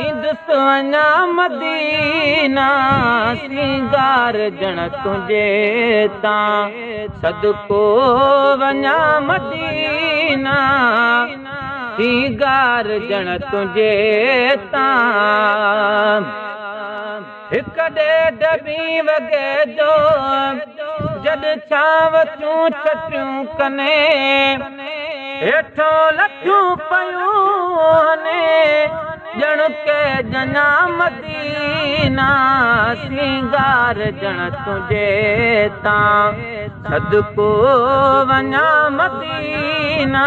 ايندس اڃا مدينه سينگار ڄڻ تنهنجي تان صدقو وڃان مدينه سينگار ڄڻ تنهنجي تان هڪ ڏيڍ ٻي وڳي جو جڏ ڇانو چون ڇٽيون ڪني هيٺون لٿيون پيون هني ڄڻ ڪي ڄڃا مدينا سينگار ڄڻ تنهنجي تان صدقو وڃا مدينا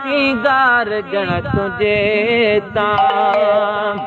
سينگار ڄڻ تنهنجي تان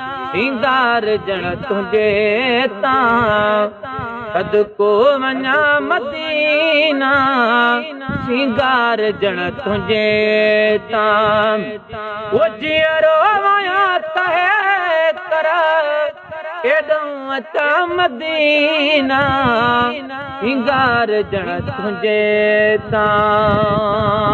سينگار ڄڻ تنهنجي تان صدقو وڃان مدينه سينگار ڄڻ تنهنجي تان او جيئرو وڃان تهي ڪر ايڏئون اچان مدينه سينگار ڄڻ تنهنجي تان